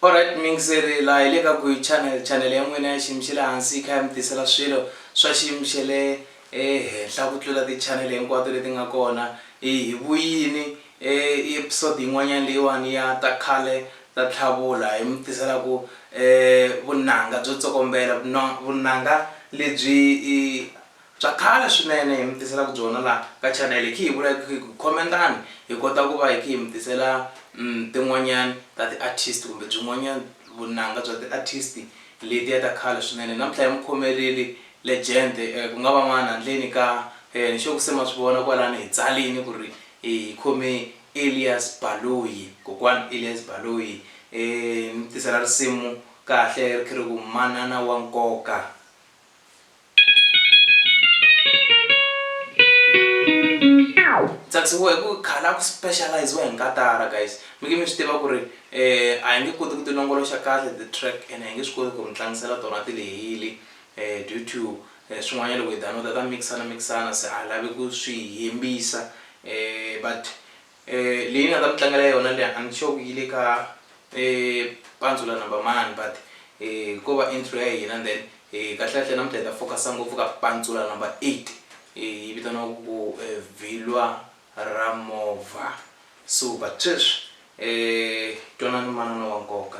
Alright mingiseri laha hi le ka Guy Channel, channel ya n'wina ya xiyimo xa le hansi yi kha yi mi tisela swilo swa xiyimo xa le ehenhla ku tlula ti-channel hinkwato leti nga kona. Hi hi vuyini episode yin'wanyana leyiwani ya ta khale ta Tlhavula hi mi tisela ku vunanga byo tsokombela vunanga lebyi i. Bya khale swinene hi mi tiselaka byona la ka chanele khi hi vula hi khi ku khomentani hi kota ku va hi khi hi mi tisela tin'wanyani ta ti artist kumbe byin'wanyani vunanga bya ti artist letiya ta khale swinene namuntlha hi mi khomeleli legend ku nga va n'wana handleni ka ni sure ku se ma swi vona kwalani hi tsalini ku ri hi khome Elias Baloyi kokwani Elias Baloyi ni mi tisela risimu kahle ri khi ri ku manana wa nkoka. tsakisiwa hi ku khala ku specializiwa hi nkatara guys mi nge mi swi tiva ku ri um a hi nge koti ku ti longoloxa kahle ti-track and hi nge swi koti ku mi tlangisela tona ti lehile um due to eh, swin'wanyana loko hi downloada ta mixana mixana se a lavi ku swi hembisa um but Eh, leyi nga ta mi tlangela yona le a ni sure yi le ka eh, pandzula number mani but eh, ko va intro ya hina then eh, kahlekahle namuntlha hi ta focusa ngopfu ka pandzula number 8 eh, yi vitaniwa ku eh, vhilwa ra movha so but sweswi eh, twanani manana wa nkoka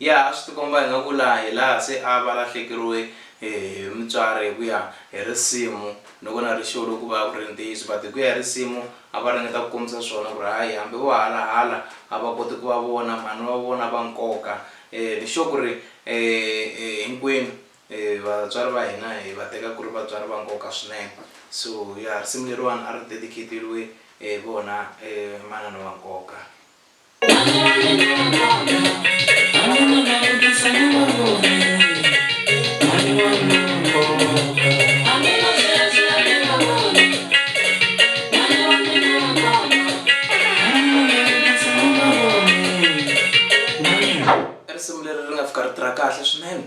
ya a swi tikomba hi nga ku laha hi laha se a va lahlekeriwe hi mutswari hi ku ya hi risimu ni ku na rixewo loku va ku ri ntiyiso but hi ku ya hi risimu a va ringeta ku kombisa swona ku ri hayi hambi vo halahala a va koti ku va vona mhani va vona va nkoka um ni sure ku ri um hinkwenu Vatswari va hina hi va teka ku ri vatswari va nkoka swinene. So ya risimu leriwani a ri dedicate-riwe hi vona manana wa nkoka. I risimu leri ri nga fika ri tirha kahle swinene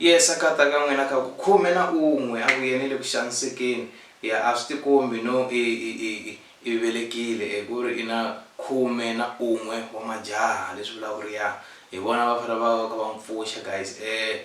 Yesu a kata ka n'wina ka ku khume na un'we a vuye ni le ku xanisekeni ya a swi tikombi no i i i i i velekile e ku ri i na khume na un'we wa majaha leswi vulaka ku ri ya hi vona va fanele va va kha va n'wi pfuxa guys e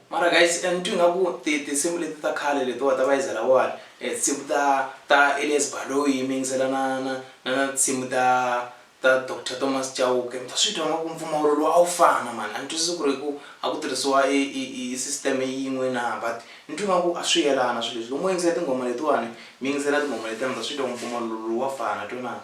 Mara guys ni twi nga ku ti tinsimu leti ta khale letiwa ta Bayeza Lawani tinsimu ta ta Elias Baloyi mi yingisela na na na na tinsimu ta ta Doctor Thomas Chauke mi ta swi twa nga ku mpfumawulo lowu a wu fana mhani a ni twisisi ku ri hi ku a ku tirhisiwa i i i i system yin'we na but ni twi nga ku a swi yelana swi leswi loko mo yingisela tinghoma letiwani mi yingisela tinghoma letiya mi ta swi twa ku mpfumawulo lowu wa fana twenani.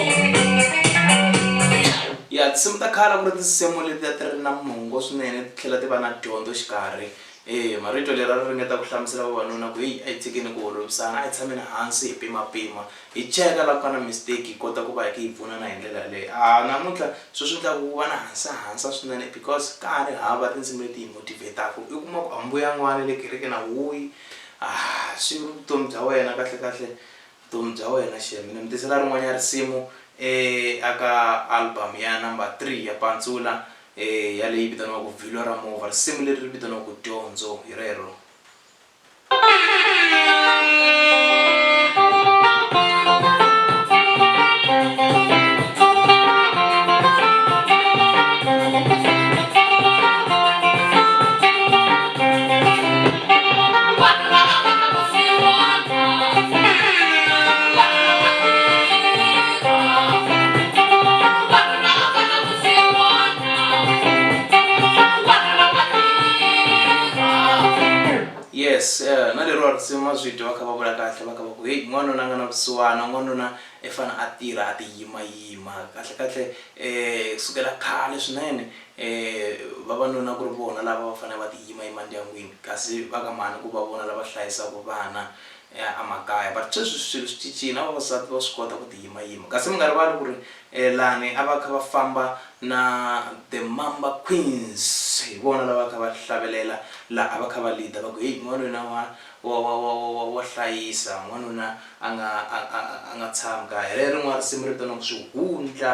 Ya tinsimu ta khale a ku ri tinsimu leti a ti ri na mongo swinene ti tlhela ti va na dyondzo xikarhi e marito leri a ri ringeta ku hlamusela vavanuna ku heyi a hi tshikeni ku holovisana a hi tshameni hansi hi pimapima hi cheka la ku nga na mistake hi kota ku va hi kha hi pfunana hi ndlela yaleyo a namuntlha swo swi endlaku ku va na hansahansa swinene because ka ha ri hava tinsimu leti hi motivate-aku i kuma ku a mbuyanga wa le kerekeni a wuyi a swi vutomi bya wena kahlekahle Vutomi bya wena Shembe. Ni mi tisela rin'wanyana risimu e a ka album ya number three ya Pantsula e ya leyi vitaniwaka Vhilwa ra Movha. Risimu leri ri vitaniwa ku Dyondzo hi rero. yes eh, na leriwa risimu ma swi dyiwa kha va vula kahle va kha va ku heyi n'wanuna a nga na vusiwana n'wanuna i fane a tirha a ti yimayima kahlekahle um sukela khale swinene E, vavanuna ku ri vona lava va fanele va tiyima emandyangwini, kasi va ka mhani ku va vona lava hlayisaka vana emakaya. But sweswi swilo swi cincile, na vavasati va swi kota ku tiyimayima. Kasi mi nga rivali ku ri e, lani a va kha va famba na The Mamba Queens, hi vona lava va kha va hlavelela laha a va kha va lead-a va ku, Heyi, n'wanuna wa, wa, wa, wa, wa, wa, wa hlayisa, n'wanuna a nga, a, a, a nga tshami kaya. Hi rero rin'wana risimu ri vitaniwaka Swihundla.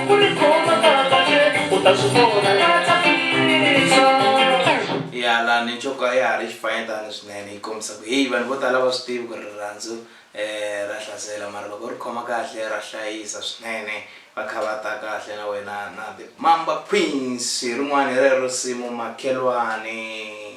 ya la ni ncoko a ya ha ri xifanyetana swinene yi kombisa ku heyi vanhu vo tala va swi tivi ku ri rirhandzu um ra hlasela mara loko ri khoma kahle ra hlayisa swinene va kha va ta kahle na wena na the mamba queens hi rin'wani hi rero simu makhelwani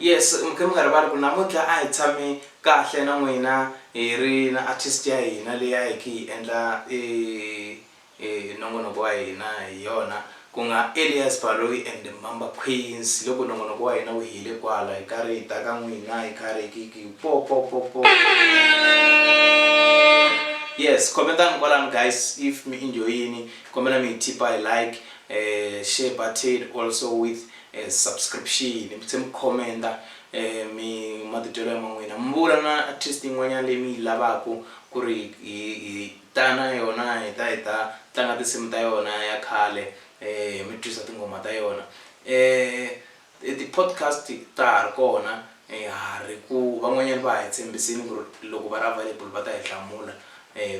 yes mukhe mi nga rivali ku namuntlha a hi tshame kahle na n'wina hi ri na artist ya hina leyi a hi khe hi endla e Hi nongonoko wa hina hi yona ku nga Elias Baloyi and Mamba Queens. Hi loko nongonoko wa hina wu hile kwala hi karhi hi ta ka n'wina hi karhi hi ki po po po po. Yes comment-ani kwalano guys if mi enjoy-ini kombela mi hi tip-a hi like eh, share button also with eh, subscription mi tlhe mi comment-a eh, mi matitwelo ya man'wina mi vula na artist yin'wanyana leyi mi yi lavaku ku ri hi, hi Ta na yona hi ta hi ta tlanga tinsimu ta yona ya khale hi mi twisa tinghoma ta yona ti podcast ta ha ri kona ha ri ku van'wanyana va ha hi tshembisini ku ri loko va ri available va ta hi hlamula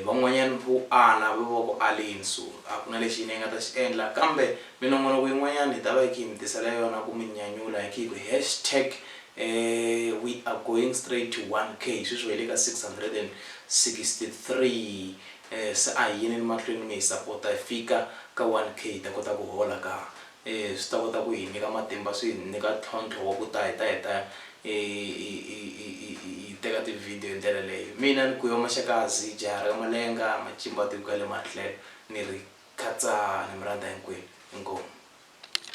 van'wanyana vo ala va va ku aleni so a ku na lexi hina hi nga ta xi endla kambe minongonoko yin'wanyana hi ta va hi kha hi mi tisela yona ku mi nyanyula hi kha hi ku hashtag We are going straight to 1K sweswi hi le ka 663 se a hi yeni emahlweni mi hi sapota hi fika ka 1K hi ta kota ku hola ka swi ta kota ku hi nyika matimba swi hi nyika ntlhontlho wa ku ta hi ta hi ta hi teka ti-video hi ndlela leyo. Mina ni Guyo Maxakazi jaha ra ka Malenga macimbatiku ya le Matlhelo ni ri Khatsani mi rhandza hinkwenu. Inkomu.